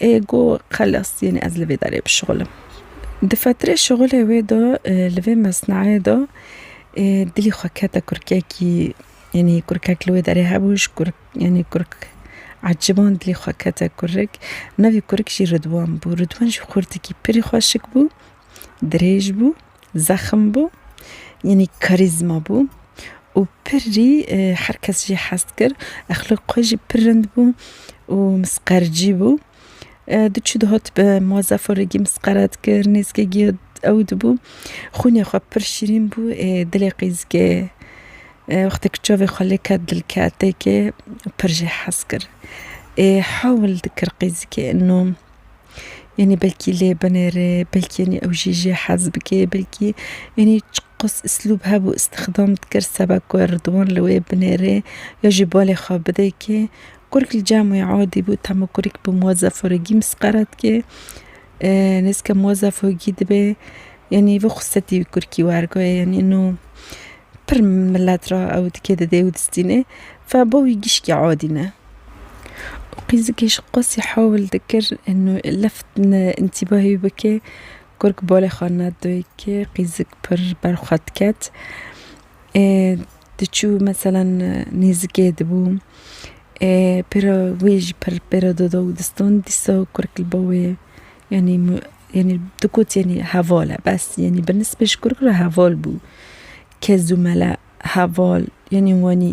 Ê go xelas yanî ez li vê derê bişuxilim. Di fetirê şuxulê wê de li vê mesnayê de dilî xwe kete kurkekî yanî kurkek li wê derê hebû ji kurk yanî kurk eciban dilî xwe kete kurik. Navê kurik jî Ridwan bû. Ridwan jî xurtikî pirî xweşik bû, dirêj bû. Zexm bû, yanî karîzma bû û pirrî her kes jî hez dikir. Exlaq xwe jî pir rind bû û misqercî bû. Diçû dihat bi Muazzafo re gî misqere dikir, nêzîkê gî ew dibû. Xwînê xwe pir şîrîn bû ê dilê qîzikê. Wextê ku çavê xwe lê ket dilketêkê pir jî hez kir. Ê hewl dikir qîzikê ino. Yanî belkî lê binêrê, belkî yanî ew jî jê hez bike, belkî yanî çi qas islûb hebû îstîxdam dikir seba ku Erdogan li wê binêrê ya jî balê xwe bide kê. Kurk li cem wê adî bû tahma kurk bi Muazzaf Fûrigî misqere dike. Nêzîka Muazzaf Fûrigî dibê yanî vê xûsetî wî kurkî werguhe yanî ino pir milet re ew dike dide û distîne. Fe bo wî gişkî adî ne. û qîzikê ji qasî hewl dikir left întîbahê wî bike kurk balê xwe nedoyike qîzik pir ber xwe diket ê diçû meselan nêzikê dibû ê pêro wî jî pir pêro dida û distan dîsa kurk li ba wê yanî yanî tu got yanî heval e bes yanî bi nisbê ji kurk re heval bû kez û mele heval yanî wanî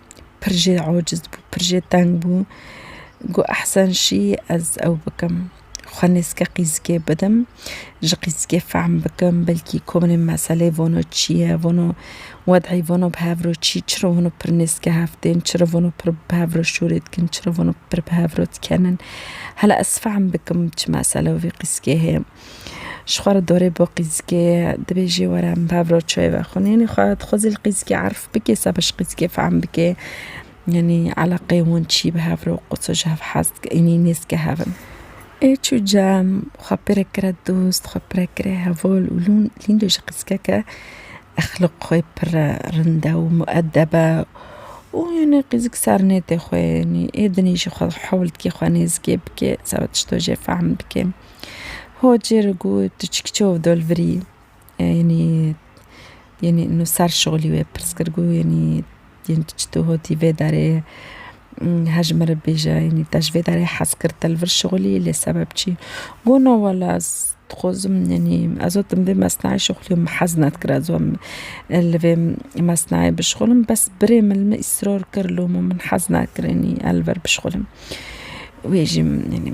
Pir jê aciz bû, pir jê teng bû. Got ehsen şî ez ew bikim. Xwe nêzike qîzikê bidim. Ji qîzikê fehm bikim belkî komî meselê vano çi ye, vano wed'î vano bi hev re çi ye, çi re vano pir nêzike hev tên, çi re vano pir bi hev re şûrê dikin, çi re vano pir bi hev re dikenin. Hela ez fehm bikim çi mesele wî qîzikê heye. Ji xwe re dorê bo qîzikê dibê jê were em bi hev re çayê vexwinîn. Xwe dixwe zî li qîzikê erf bike seba ji qîzikê fehm bike yanî eleqeyê wan çi ye bi hev re û qo ji hev hez dike yanî nêz dike hev in. Ê çû cem xwe pê re kire dost, xwe pê re kire heval û lûn lîndo ji qîzikeke exlaq xwe pir re rind e û muedeb e û yanî qîzik ser nêtê xwe yanî ê dinê jî xwe hewl dike xwe nêzikê bike seba tişta jê fehm bike. Ho cêr û gû tu çi kiçe û dol virî yenî yenî nu ser şolî wê pirs kir gû yenî yên tu çitû hotî vê derê her ji min re bêje yenî te ji vê derê hez kir te li vir şolî lê sebeb çi? Gû no wele ez dixwazim yenî ez got vê mesnayê şixulî min hez nedikir ez got li vê mesnayê bişixulim bes birê min li min îsrar kir loma min hez nakirin yenî ez li vir bişixulim wê jî min yenî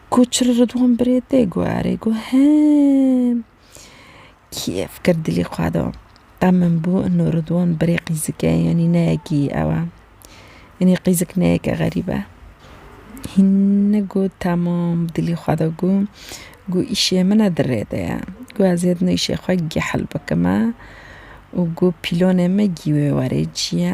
Ku çi li Ridwan birê tê guherî ku hem kêf kir dilî xwe da. Ev min bû ino Ridwan birê qîzik e yanî ne yekî ew e. Yanî qîzik ne yeke xerîb e. Hînî got temam bi dilî xwe da got ku îşê min e di rê de ye. Got ez ê dino îşê xwe gehil bikim e û got pîlonê me gî wê were cî ye.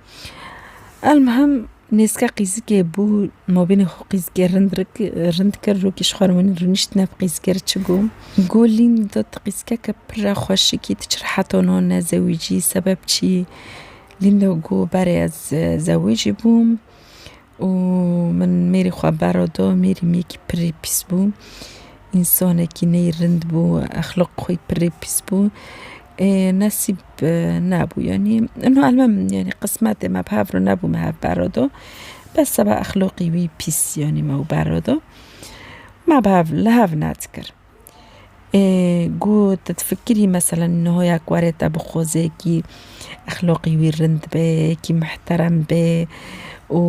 Elmuhim nêzke qîzikê bû navbînê xwe qîzikê rind rik rind kir rokî ji xwe re min rûnişt ne bi qîzikê re çi got got lîn da tu qîzikeke pir re xweşikî tu çi re heta no nezewicî sebeb çi yî lîn da got berê ez zewicî bûm û min mêrî xwe berra da, mêrî min yekî pirrî pîs bû, însanekî ney rind bû, exlaq xwî pirrî pîs bû, ê nesîb nebû yanî, niha almam yanî qismetê me bi hev re nebû me hev berra da, bes seba exlaqî wî pîs yanî me û berra da, me bi hev li hev net kir. Ku tu difikirî mesela hoya ku were te bi xozekî exloqî wî rind be, yekî mihterem be û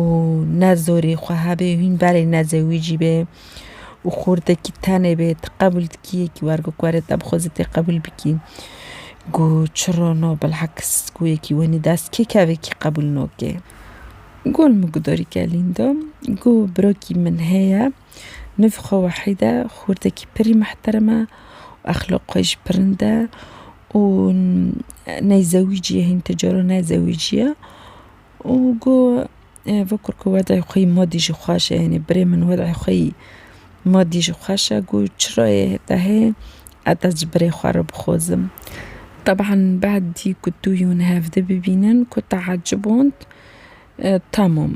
ne zorê xwe hebe hîn berê neze wî jî be û xurtekî tenê be tu qebûl dikî yekî wer ku were te bi xwezê tê qebûl bikî. Ku çiro no bilheks ku yekî wenî dest kê kevekî qebûl noke. Ku li min ku dorî kelîn de ku birokî min heye. Nûv xwe wehîd e, xûrdekî pirî mihterem e û exlaq xwe jî pir nind e û ney zewîcî ye hîn ti cara ne zewîcî ye û go vekûr ku wedayê xwe yî madî jî xweş e yanî birê min wedayê xwe yî madî jî xweş e go çira yê heta hê ez dest ji birê xwe re bixwazim. Teban bedî ku tu hûn hevdî bibînin ku teecib hûn tamam.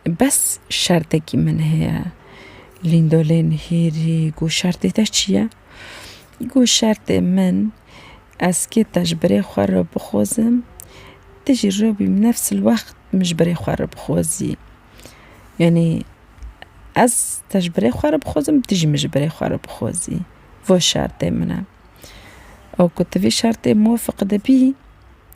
Bes şertekî min heye lîndolên hêrî got şertê te çi ye? Got şertê min ez kê te ji birê xwe re bixwazim tu jî rewî min nefs il wext min ji birê xwe re bixwazî. Yanî ez te ji birê xwe re bixwazim tu jî min ji birê xwe re bixwazî. Vay şertê min e. Ew ku tu vê şertê muwefiq dibî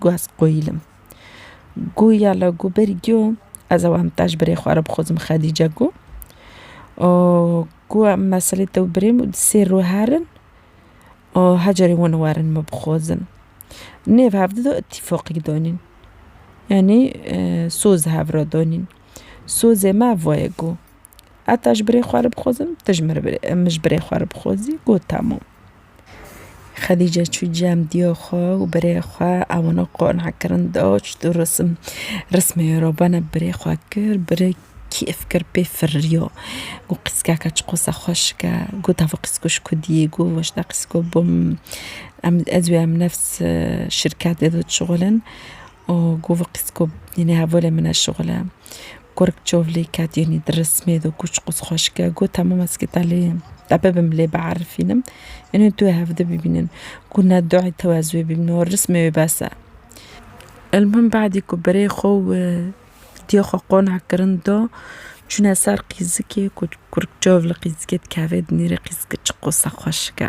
Ku ez qoyîlim. Ku ya la ku ber giyo ez ew em tej birê xwe re bixwazim Xedîce ku. Û ku em meselê te û birê min di sêr rû herin û hecerê wan werin min bixwazin. Nêv hev dido îtîfaqî danîn. Yanî soz hev re danîn. Sozê me ev waye ku. Heta ji birê xwe re bixwazim, tu ji min ji birê xwe re bixwazî got temam. Xedîce çû cem diya xwe û birê xwe ewina qane'kirin da çitûr risim rismê wê re bena birê xwe kir, birê kêf kir pê firiya û qîskeke çi qas xweşike got ev qîsko ji ku diyê got weş te qîsko bim em ez û em nefs şirketê de dişuxulin û got vê qîsko yê hevalên min e şixule. Kurk çovlî ket yenî di rismê do kûçik û xweşike got hemû mezgîta lê ye. Te bibim lê biarifînim yenî tu wê hevdî bibînin ku ne duay te ez wê bîbînim û rismê wê bes e. Elmûhim badî ku birê xwe û diyê xwe qona kirin do çûne ser qîzikê ku kurk çovlî qîzikê dikeve dinêrê qîzikê çi qosa xweşike.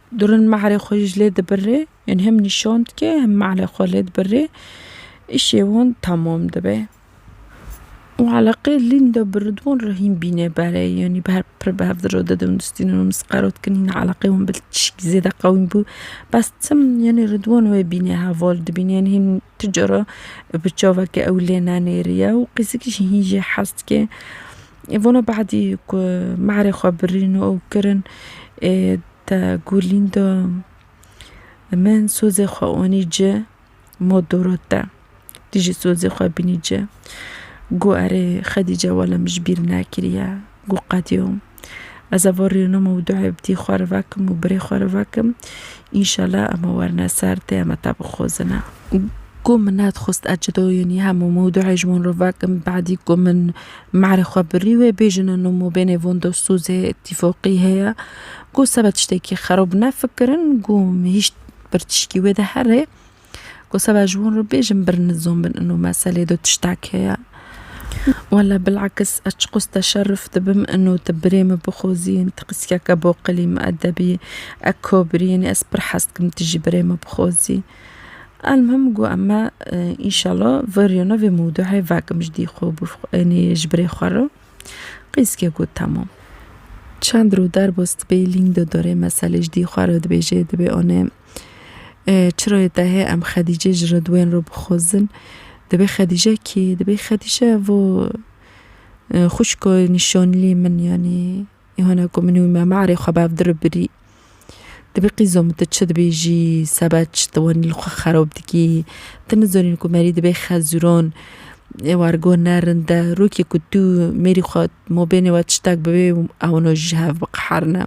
Duran malê xwe ji lê dibirê, yan hem nîşan dike hem malê xwe lê dibirê. Îşê wan temam dibe. Û eleqê lînda bi Ridwan re hîn bîne bere. Yanî bi her pir bi hev re dide û nustîne û mis qero dikin hîna eleqê wan bi tişkî zêde qewîm bû. Bes tim yanî Ridwan wê bîne heval dibîne yan hîn Tu cara bi çavekê ew lê nenêriye û qîzikî jî hîn jê hez dike. Vana behedî ku mehrê xwe birîn û ew kirin ê te gulîn da min sozê xwe anî ci ma dora te. Tu jî sozê xwe bînî ci. Got erê Xedîce wele min ji bîr nekiriye. ku qediyo ez ava rênûm û duayê bi dî xwe re vekim û birê xwe re vekim înşela em ê werine ser tê em ê te bixwezine. Ku min nedixwist ez cidoyînî hem û min duayê ji wan re vekim badî ku min merê xwe birî wê bêjin in û min bênê van de sozê tîfoqî heye ku sebe tiştekî xerob nefikirin ku hîş pir tişkî wê de here. Ku seba ji wan re bêjim bir nizam bin ino meselê de tiştek heye. Wela bilakis ez çiqas teşeruf dibim ino tu birê min bixwazî yên tu qîskeke baqilî miedebî ye kabirî ye yanî ez pir hez dikim tu jî birê min bixwazî. Elmuhim got em me înşela veriyane vê mewdueyê vekim ji dî xwe yanî ji birê xwe re qîskê got temam. Çend rû derbas dibe lîng de dore meselê ji dî xwe re dibêje dibê anê. Çiro yê te hê em Xedîcê ji Ridwên re bixwezin. Dibê Xedîce kî? Dibê Xedîce vo xwişko nîşanlî min yanî hene ku min û me me erê xwe bev diribirî. Dibê qîzo min tu çi dibêjî sebe çi tu wanî li xwe xerob dikî. Tu nizanîn ku merî dibê xezuran wargo ne rind e. Rokê ku tu mêrî xwe ma bênê we tiştek bibê ewna ji hev biqeherine.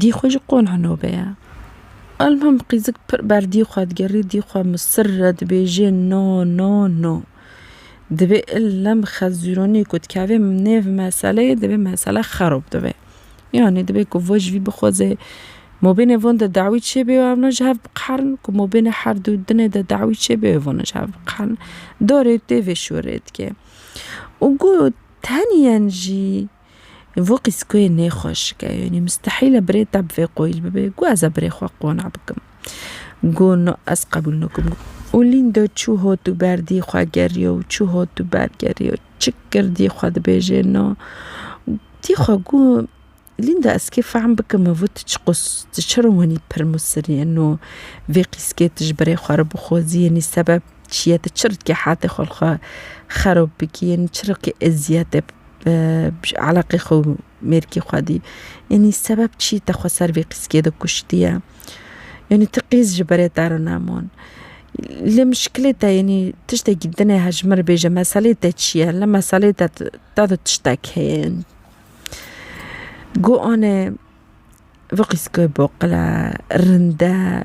Dî xwe jî qona nobe ye. Alma bi qîzik pir ber dî xwe digerî, dî xwe misir re dibêje no no no. Divê ille bi xezûronî ku dikeve nêv meseleyê divê mesele xerob dibe. Yanî divê ku vo ji vî bixwaze mabênê van de dawî çêbe û evna ji hev biqerin ku mabênê her du dinê de dawî çêbe û vana ji hev biqerin. Dorê tê vê şûrê dike. Û ku tenyen jî Vo qîzkoyê nêxweşik e, yanî mistehîl e birê te bi vê qoyîl bibe. Got ez ê birê xwe qona bikim. Got na ez qebûl nakim. Û Lîndo çû hot û ber dî xwe geriya û çû hot û ber geriya. Çik kir dî xwe dibêje na. Dî xwe got Lîndo ez kê fehm bikim e vo tu çiqas tu çira wenî pir musirî ye na vê qîzkê tu ji birê xwe re bixwazî yanî sebeb çi ye tu çi rikê hetê xwe li xwe xerab bikî yanî çi rikê eziyetê Eleqê xwe û mêrkê xwe dî. Yanî sebeb çî te xwe ser vê qîskê de kuştiye? Yanî ti qîz ji berê te re nemûn. Lê mişkilê te yanî tiştekî din e ji min re bêje meselê te çi ye? Li meselê te te de tiştek heye. Got anê vê qîske boqile, rind e.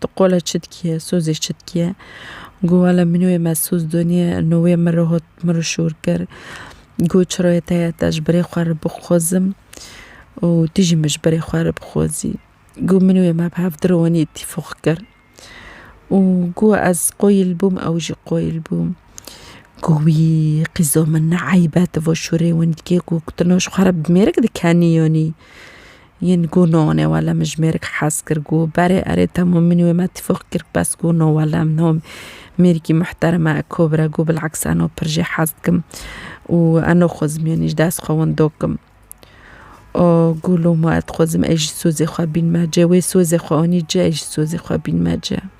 Tu qole çi dikiye, sozê çi dikiye? Got, Wele min wê me soz doniye, no wê min re hot, min re şor kir. Got, Çirayê te ye, te ji birê xwe re bixwazim û tu jî min ji birê xwe re bixwazî. Got, Min wê me bi hev direwanî îtîfoq kir. Û got, Ez qoyîl bûm, ew jî qoyîl bû. Got, Wî qîza min ne eyb e, tu va şorê winî dikî. Got, Tu no ji xwe re bi mêrik dikenî yanî? Yin gu no ne wele min ji mêrik hez kir gu berê erê temo min wê me tîfûx kir bes gu no wele min no mêrikî muhtereme eko bire gu bil'aks eno pir jê hez dikim û eno xwezim yanî ji dest xwe windo kim o gu loma ez dixwezim ez jî sozê xwe bînme cê wê sozê xwe anî cê ez jî sozê xwe bînme cê.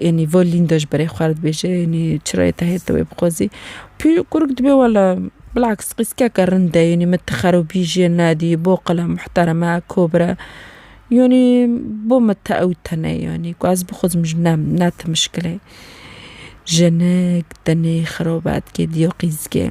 Enî vo lînda ji berê xwe re dibêje enî çira yê tehê te wê bixwazî. Pî kurik dibê wela bilaks qîskeke rind e enî min ti xerobî jê nedî bo qile muhtereme kobire. Yanî bo min ti ew tune ye enî ku ez bixwazim ji ne ne ti mişkile ye. Jinik tenê xerobe dike diya qîzge.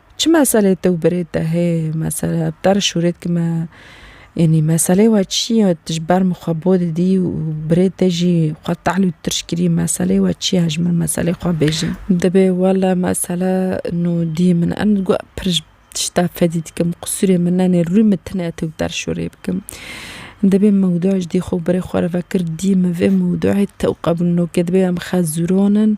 Çi meselê te û birêt de heye mesela bi te re şûrê dikim e yanî meselê we çi ye tu ji ber min xwe bo didî û birêt te jî xwe tehl û tirş kirî meselê we çi ye ji min meselê xwe bêje. Dibê wele mesele nû dî min e min got pir ji tişta fedî dikim qisûrê min ne nê rûyê min tune te û te re şûrê bikim dibê mewdûa ji dî xwe û birê xwe re vekir dî min vê mewdûayê te û qebûl nokê dibê em xezûronin.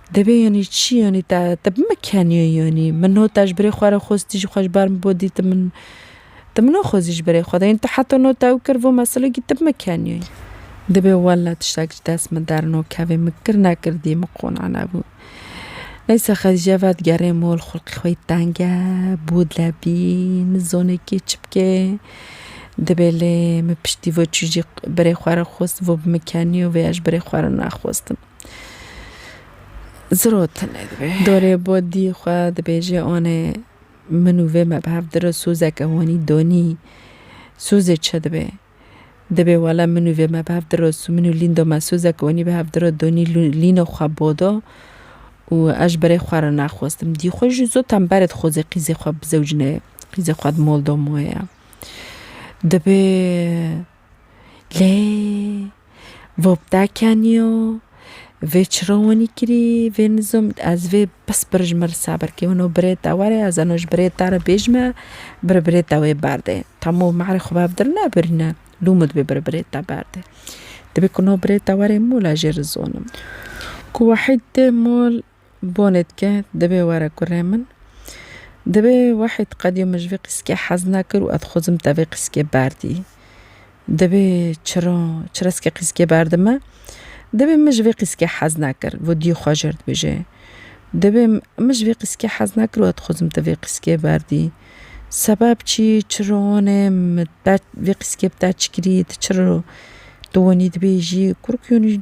Divê yanî çi yanî te te bime keniyê yanî min no te ji birê xwe re xwest tijî xwe ji ber min bo dî tu min tu min naxwezî ji birê xwe de yanî tu heta no te ew kir vo meselê gî tu bime keniyê. Divê wele tiştek ji dest min dernakevê min kir nekir dî min qona nebû. Neyse Xedîce vedigerê mol xulqê xwe yê teng e bo dilebî nizane kê çi bike divê lê min piştî vo çijî birê xwe re xwest vo bime keniyê vêya ji birê xwe re nexwestin. Zirot tine dibe. Dorê bo dî xwe dibêje anê min û vê me bi hev dire sozeke honî donî sozê çi dibe? Dibê wele min û vê me bi hev dire min û lîndo me sozeke honî bi hev dire donî lîno xwe bo do û ez ji berê xwe re naxwestim dî xwe jî zû tembere dixweze qîzê xwe bizewicne qîzê xwe di mol do moye. Dibê Lê vo bi te keniyo, vê çiro winî kirî, vê nizom ez vê bes birij min risa ber kê wino birê te were ez eno ji birê te re bêj me biri birê te wê berdê. Tamo ma erê xwe bev dir nebirîne lû min dibê biri birê te berdê. Dibê ku no birê te were mola jê rizonim. Ku wahîd dê mol. Bonê dike, Divê were kurê min. Divê Wahîd qedîyo min ji vê qîskê hez nekir û ez xwezim te vê qîskê berdî. Divê Çiro, Çiro ez ke qîskê berdime, divê min ji vê qîskê hez nekir û dî xwe jêr dibêje. Divê Min ji vê qîskê hez nekir û ez dixwezim te vê qîskê berdî. Sebeb çi? Çiro onê min te vê qîskê bi te çi kirî? Tu çiro tu winî dibêjî? Kurikî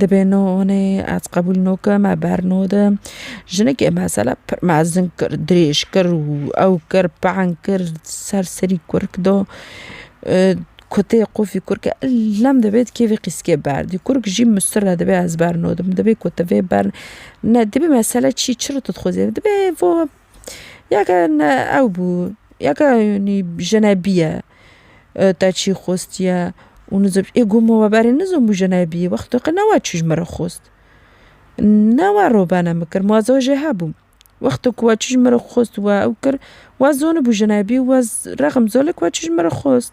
Dibê no onê ez qebûl no ke me ber no de jinekê mesela pir mezin kir dirêj kir û ew kir peng kir ser serî kurk da kotê qûfî kurke lem dibê di kêfê qîskê berdî kurk jî mustir re dibê ez ber no dim dibê ku tu vê ber nedibê mesela çî çi re tu dixwazî dibê vo Ya ke ew bû ya ke nî jinebîye te çî xwestiye û nizib ê ku min we berê nizin bû jinebî wexto ke newe çû ji min re xwest newe robene min kir ma zor jê hebûm wexto ku we çû ji min re xwest û we ew kir we zonibû jinebî wez rexm zor li ku we çû ji min re xwest.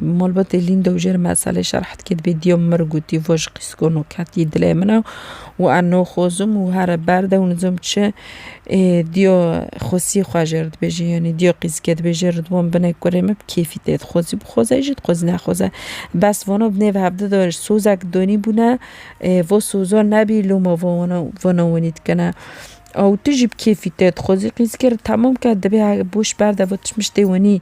Malbatê Lînda û jê re meselê şerh dike dibê diya mir gotî va ji qîsgona ketî dilê min e û ez naxwazim û here berd e û nizam çi ê diya xwesiyê xwe jê re dibêje yanî diya qîsgê dibêje Ridwan bine kurê min bi kêfî tê dixwazî bixwaze jî dixwazî nexwaze bes vana bi nêve hevdeh de sozek danî bûne va soza nebî loma va wana vana wanî dikene ew tu jî bi kêfî tê dixwazî qîsgê re temam ke dibê boş berde va tişt miştê wanî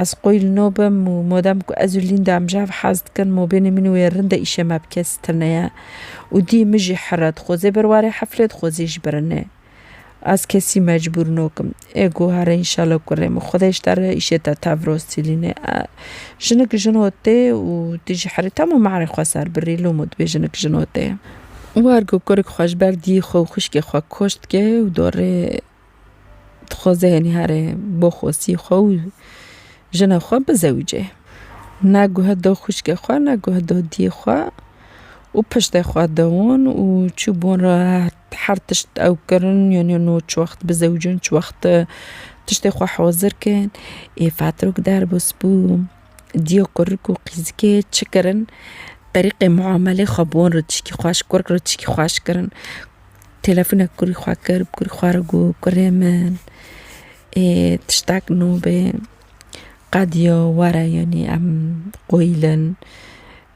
Ez qoy li no bim û modem ku ez û Lînda em ji hev hez dikin, mobênê min wê rind e îşê me bi kes tune ye û dî min jî here. Dixwezê ber ware heflê, dixwezê jî ber nê. Ez kesî mecbûr nokim. Ê guhere înşala ku rê min Xwedê ji te re îşê te tev rost Sîlînê. Jinik jin o tê û tu jî herî tam û mehrê xwe ser birî lûm û dibê jinik jin o tê. War ku kurek xwe ji ber dîyê xwe û xwişkê xwe koşt dike û dorê Dixwaze yenî here bo xwesî xwe û jina xwe bizewicê. Ne guhe do xwişkê xwe ne guhe do diyê xwe û piştê xwe dewon û çûbûn re her tişt ew kirin yenî no çi wext bizewicin çi wext tiştê xwe hozir kin. Ê fatirok derbo spû diyê kurik û qîzikê çi kirin? Terîqê muamelê xwe bon re tişkî xweş kurik re tişkî xweş kirin. Telefonek kurê xwe kir, bi kurê xwe re got, Kurê min ê tiştek nûbê, qediya were yanî em qoyîlin,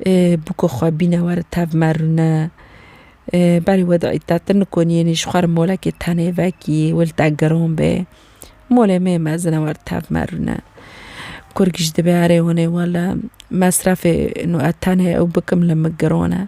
ê bûka xwe bîne were tev me rûne, ê berê weda îta tu nikonî yanî ji xwe re molekê tenê vekî, wê li te giran be, molê me yê mezin e were tev me rûne. Kur giş dibe erê wane wele, mesrefê ino ez tenê ew bikim li min giran e.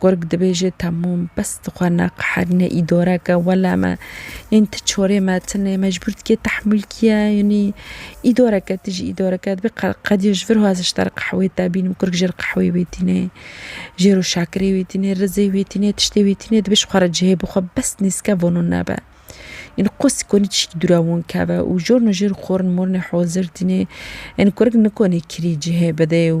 Kurg dibêje temûm bes dixwe ne qeher ne îdoreke wele me yên ti çorê me tine mecbûr dike tehmûl kiye yanî îdoreke ti jî îdoreke dibê qediya ji vir hozê ji te re qehwê te bînim kurg jê re qehwê wê tîne jê re şakirê wê tîne rizê wê tîne tiştê wê tîne dibê ji xwe re cihê bixwe bes nêzke vano nebe yanî qosî konî tiştî dûre wan keve û jorno jê re xwarin morinê hozir tîne yanî kurg nikonê kirî cihê bide û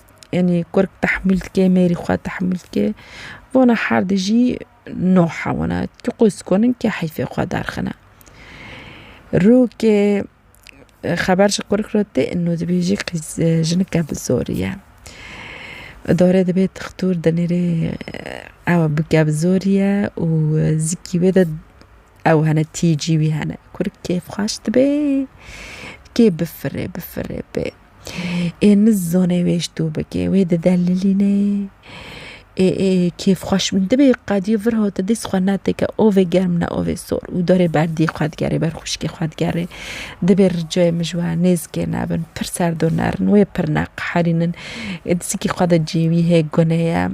Yanî kurk tehmûl dike mêrî xwe tehmûl dike wana her di jî no hewana tu qûz konin ke heyfê xwe derxine. Rûkê xeber ji kurk re tê no dibêjî qîz jinike bi zorî ye. Idare dibê dixtur dinêrê ew bike bi zorî ye û zikî wê de ew hene tî cî wî hene. Kurk kêfxweş dibê kê bifirê bifirê bê. Ê nizane wê ji to bike, wê didelilîne. Ê ê kêf xweş min dibê qedî vir hate dîs xwe netike ovê germ ne ovê sor û derê ber dî xwe digerê ber xwişkê xwe digerê. Dibê ricayê min ji we nêzikê nebin, pir serdo nerin, wê pir neqeherînin. Ê dizikî xwe de cêwî hê gune ye.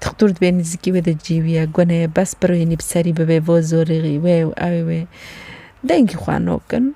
Dixtor dibê nizikî wê de cêwî ye gune ye bes pirwînî bi serî bibê vozorî wê û ewê wê. Dengî xwe nokin.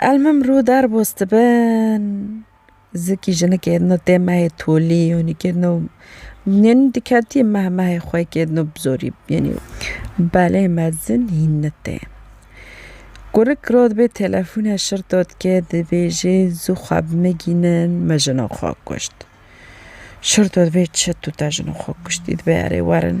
Elmim rû derbos dibin zikî jinikê no tê mehê tolî yanî ke no yanî diketî meh mehê xwe ke no bi zorî yanî belê mezin hîn nitê. Gurik rû dibê telefûne şir to dike dibêje zû xwe bimigînin me jina xwe kuşt. Şir to dibê çi tu te jina xwe kuştî dibê erê werin.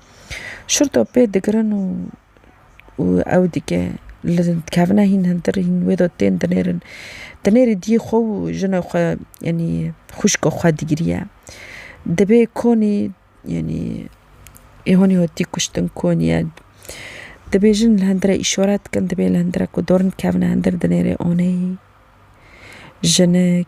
Şurda pê digirin û ew dike li dikevine hîn hintir hîn wê de tên dinêrin. Dinêrî diyê xwe û jina xwe yanî xwişka xwe digiriye. Dibê konî yanî ê hûnî hatî kuştin konî ye. Dibê jin li hundirê îşaret dikin dibê li hundirê ku dorn dikevine hundir dinêrê aneyî jinik.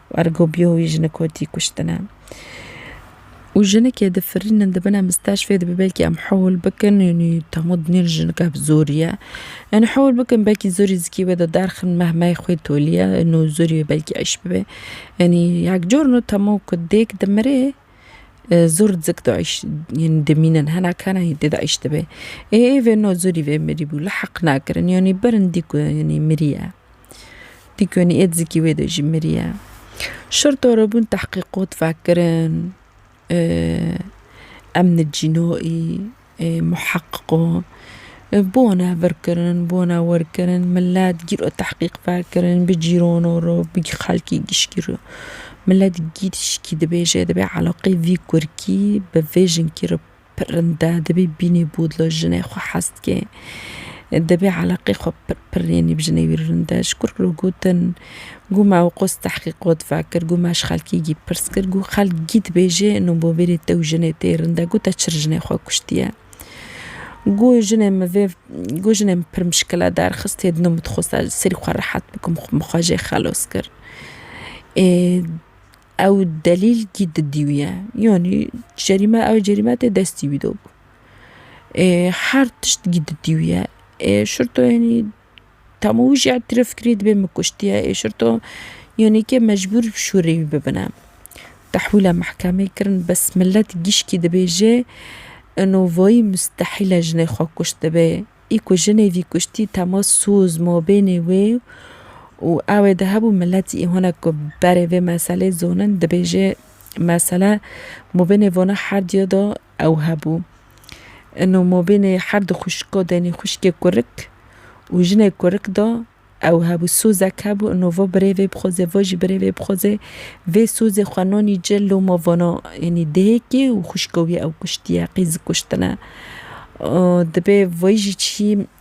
Ergo bîyo wî jin kotî kuştine. Û jinikê difirînin dibine misteşfê dibe belkî em hewl bikin yanî temo dinêr jinika bi zorî ye. Yanî hewl bikin belkî zorî zikî wê de derxin meh meyê xwe tolî ye no zorî wê belkî eş bibe. Yanî yek cor no temo ku dêk dimirê. Zor dzik daîş yên dimînin hena kana hîn tê daîş dibe. Ê vê no zorî vê mirî bû li heq nakirin yanî birin dî ku yanî miriye. Dî ku yanî ê dizikî wê de jî miriye. Şerta re bûn tehqîqat vekirin emni cînoî. Muheqiqo, bone virkirin, bone werkirin, milet gîro tehqîq vekirin, bi cîrono ro, bi xelkî gişkî ro. Milet gişkî dibêje, dibê eleqeyê vî kurkî bi vê jinkî re pirrinde, dibê bînê bodla jinê xwe hes dike. Dibê eleqeyê xwe pirpirrînê bi jinê wî rinde. Ji kur re gotin. Gû me û qûz tehqîqot vekir, gû me ji xelkî gî pirs kir, gû xelk gî dibêje no bo vê rê tew jinê tê rinde, gû te çir jinê xwe kuştiye. Gû jinê min vê, gû jinê min pir mişkile derxist, hê dino min dixwest ez ji serî xwe rehet bikim, min xwe jê xelos kir. Ê ew delîl gî didî wî ye, yanî cerîme ew cerîme tê destî wî de bû. Ê her tişt gî didî wî ye. Ê şirto yanî Hemû wî jî îtiraf kirî dibê min kuştiye êşirto yanî ke mecbûr bi şûrê wî bibine. Tehwîla mehkemê kirin bes milet gişkî dibêje ino vayî mustehîl e jinê xwe kuştibe. Î ku jinê vî kuştî tema soz mabênê wê û ew ê di hemû milet î hinek ku berê vê meselê zonin dibêje mesele mabênê vana herdûya de ew hebû. Ino mobînê her di xwişko denî xwişkê kurik û jinê kurik da ew hebû. Sozek hebû ino vo birê vê bixwazê vo jî birê vê bixwazê vê sozê xwe nanî ci loma vana enî dihêkê û xwişko wî ew kuştiye qîz kuştine. Dibê vayî jî çî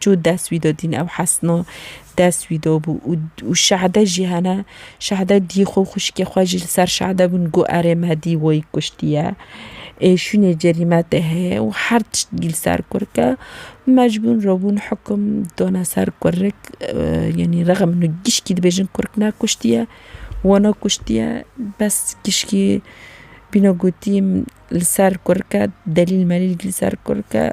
Çû dest wî do dîn ew Hesno dest wî do bû û û Şehde jî hene. Şehde dî xwe û xwişkê xwe jî li ser Şehde bûn got erê me dî wî kuştiye. Ê şûnê cerî me tê heye û her tişt dî li ser kurik e. Mecbûn re bûn hikim done ser kurik yanî rexm min û gişkî dibêjin kurik ne kuştiye wana kuştiye bes gişkî bîne gotî min li ser kurik e delîl melîl li ser kurik e.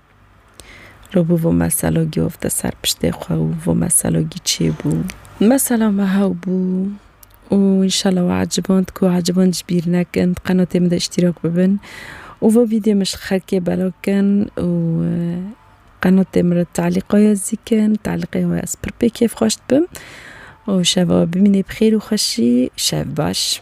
Rû bû vê meselogî ofte ser piştê xwe û vê meselogî çê bû. Mesela me hew bû û înşela we eciband ku eciband ji bîr nekin, di qenotê min de îştîrak bibin û vê vîdyoyê min ji xelkê belav kin û qenotê min re telîqa ya zîkin, telîqê we ez pir pê kêfxweş dibim û şeva we bimîne bi xêr û xweşî, şev baş.